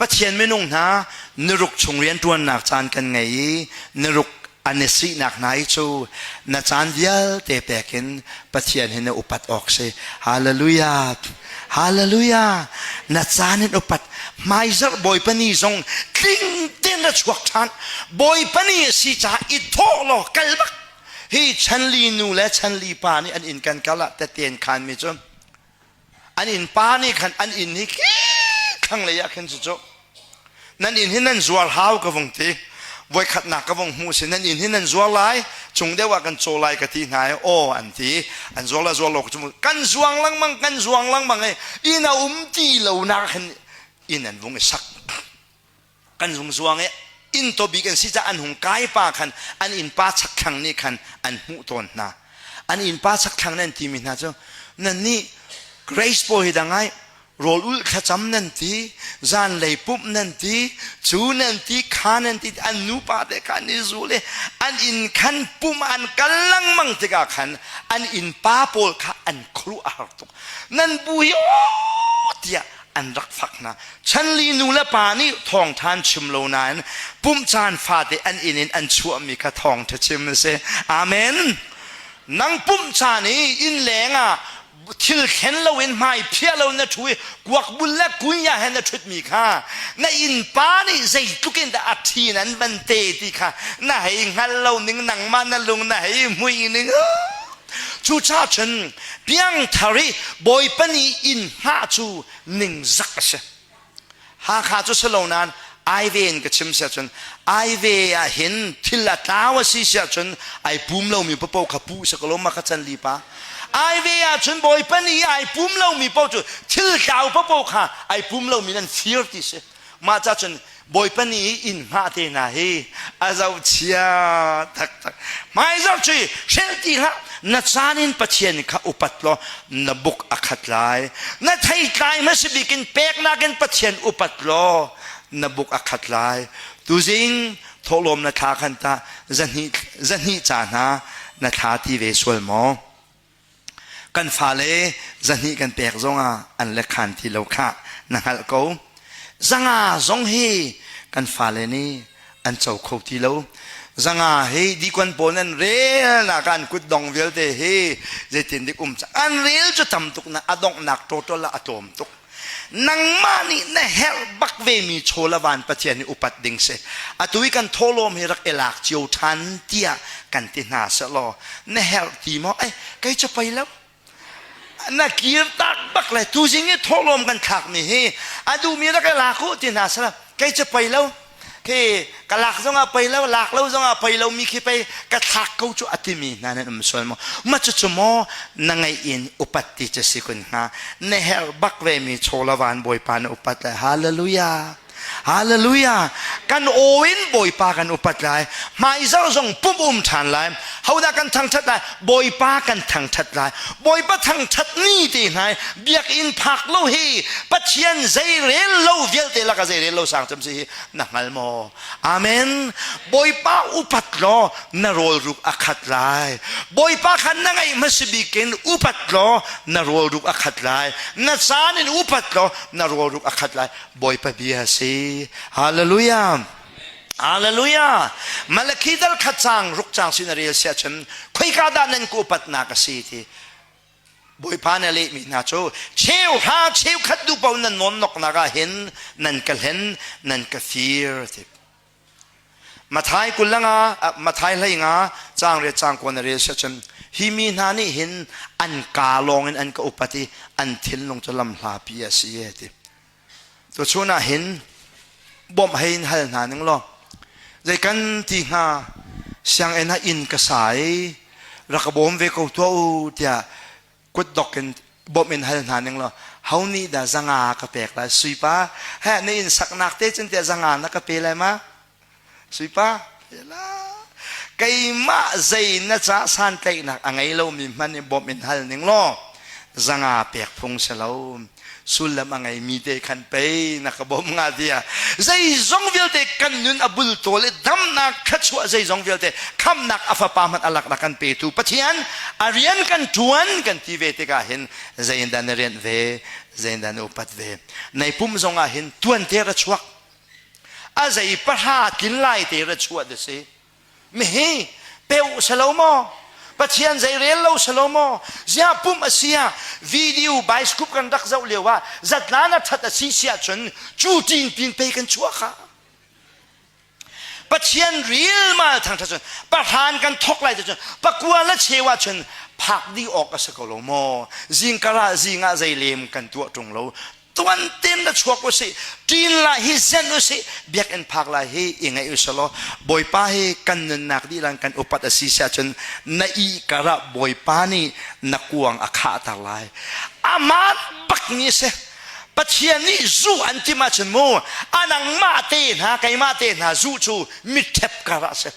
Pathian minung hna niruk chung rianṭuannak caan kan ngei i niruk a na sihnak hna i cu na caan vialte pek in Pathian hi na upat awk si. Hallelujah! Hallelujah! Na caan in upat. Hmaizarh Bawipa ni zong tling tein a chuak ṭhan. Bawipa ni a si caah i thawh law kal bak. Hi chanli nu le chanli pa nih an inn kan kal ah tetein khanmi cu An innpa nih khan an inn hi thlanglei ah khin cucu nan inn hi nan zuar hau ka vung ti voikhatnak ka vung hmu si nan inn hi nan zuar lai chung deuh ah kan caw lai ka ti hna i aw an ti an zuar la zuar lo cu kan zuang lengmang kan zuang lengmang i inn a um ti lo nak khin inn an vung i sak kan lungzuang i innto bik an si caah an hung kai pa khan an innpa chakthlang nih khan an hmuh tawn hna an innpa chakthlang nan timi hna cu nannih grace bawi dang ai rawl ul thlacam nan ti zanlei pumh nan ti cu nan ti kha nan ti an nupa te kha an i zul i an inn khan pumh an kal lengmang tikah khan an innpa pawl kha an khuaruah har tuk nan bu hi aw tiah an rak fak hna. Chanli nu le pa nih thawngṭha an chim lo nain pumh caan fate an inn in an chuahmi kha thawngṭha chim a si. Amen! Nang pumh caan i innleng ah thil thlen loin hmai phiah loin na ṭhu i kuakbul le kunya he na ṭhutmi kha na innpa nih zeitluk in dah a ṭhi in an ban te ti kha na hei hngal lo ning nangmah na lung na hei hmuih ning. Cucaah cun piangthar i Bawipa nih inn hngah cu ningzak a si. Hakha cu si lo nain aive in ka chim siah cun aive ah hin thil a tlau a si siah cun ai pum lomi papo kha pu si ko lawm ka can li pa aive ah cun Bawipa nih ai pum lomi papo cu thil tlau papo kha ai pum lomi nan fir ti si Mah ca cun Bawipa ni i inn hngah te hna hi a zochia taktak. Hmai zohci hrel ti hlah. Na caan in Pathian kha upat law na buk a khat lai. Na theitlai hma si bik in peknak in Pathian upat law na buk a khat lai. Tuzing thawhlawm na thla khan tah zahnih, zahnih ca hna na thla ti ve sual maw? kan fale zahnih kan pek zongah an lekhan ti lo khah na hngalh ko zanga zong hi kan fale nih an co kho ti lo zanga hi dikon pawl nan rel nak an kut dong vialte hi zeitin dik um an rel cu tam tuk na a donghnak total a tlawm tuk nangmah nih na herh bak vemi chawlavan pathian hi upat ding si atu i kan tholawm hi rak i lak cio ṭhan tiah kan ti hna selaw na herh ti maw ai kei cu pei lo na kir tak bak le tuzing i tholawm kan thlakmi hi a duhmi rak i lak u ti hna sela kei cu pei lo Hi ka lak zongah pei lo lak lo zongah pei lo mi khi pei ka thlak ko cu a timi hna nan um sual maw ma cu cu maw na ngaih in upat ti cu si kun hnga na herh bak ve mi cholavan bawipa na upat lai hallelujah hallelujah kan aw in bawipa kan upat lai hma i zong zong pum um ṭhan lai hodah kan thangṭhat lai Bawipa kan thangṭhat lai. Bawipa thangṭhat ni te hngai biakinn phak lo hi Pathian zei rel lo vialte laka zei rel lo sang cem si hi na hngal maw? Amen. Bawipa upat law na rawlruk a khat lai. Bawipa kha na ngeih hmasi bikin upat law na rawlruk a khat lai. Na caan in upat law na rawlruk a khat lai. Bawipa bia si. Hallelujah. Hallelujah! Malachi dal khat cang ruk cang sin a rel sia cun khoika dah nan ku patnak a si ti Bawipa nih a lehmi hna cu cheu hra cheu khat duhpaoh nan nawnnoknak ah hin nan ka hlen nan ka fir ti Mathai kulang ah Mathai hlei nga cang re cang ko na rel sia cun hi mi hna nih hin an ka lawng in an ka upat i an thinlung cu lam hlapi a si ti Tuchun ah hin bawmh hei in hal hna ning law zei kan ti hnga sianginn ah inn ka sa i rak ka bawm ve ko tuah u tiah kutdok in bawmh in hal hna ning law ho nih dah zanga ka pek lai sui pa heh na inn saknak te cun tiah zanga na ka pe lai ma Sui pa, keimah zei na ca santlaihnak a ngei lomi hmanh in bawmh in hal ning law zanga pek phung si lo sullam a ngeimi te khan pei na ka bawm nga tia zeizong vialte kan nun a bultawl i damnak thluachuah zeizong vialte khamnak a fapa hmanh alak na kan petu pathian a rian kan tuan kan ti ve tikah hin zeiindah na rianh ve zeiindah na upat ve nei pum zong ah hin tuan te ra chuak a zei pahra kil lai te ra chuat a si mihi pe u selo maw pathian zei rel lo selo maw zia pum a sia video bioscope kan rak zoh lio ah zatlan a that a si siah cun cu tin pin pe kan chuah kha pathian ril ma thangtha cun pahran kan thok lai te cun pakua la chewa cun phak di awk a si ko lo maw zingkara zingah zei lem kan tuah tung lo tuan ten la chuak usih ṭin la hi zen usih biakinn phak la hi i ngaih usih law bawipa hi kan nunnak dih lang kan upat a si siah cun na i karah bawipa nih na kuang a khahter lai aman bakmi si Pathian nih zu an tim ahcun mu anang mah te hna keimah te hna zu cu miṭhep karah si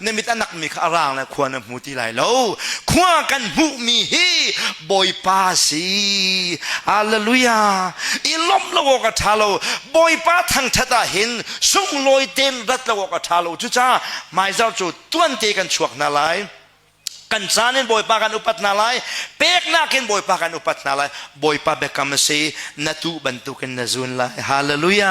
na mit a nakmi kha a raang le khua na hmu ti lai lo khua kan hmuhmi hi bawipa si halleluja i lomh lo awk a ṭha lo bawipa thangṭhat ah hin sunglawi tein rat lo awk a ṭha lo cucaah hmaizar cu tuante kan chuak hna lai kan caan in bawipa kan upat hna lai peknak in bawipa kan upat hna lai bawipa biakam a si na tuh bantukin na zun lai halleluja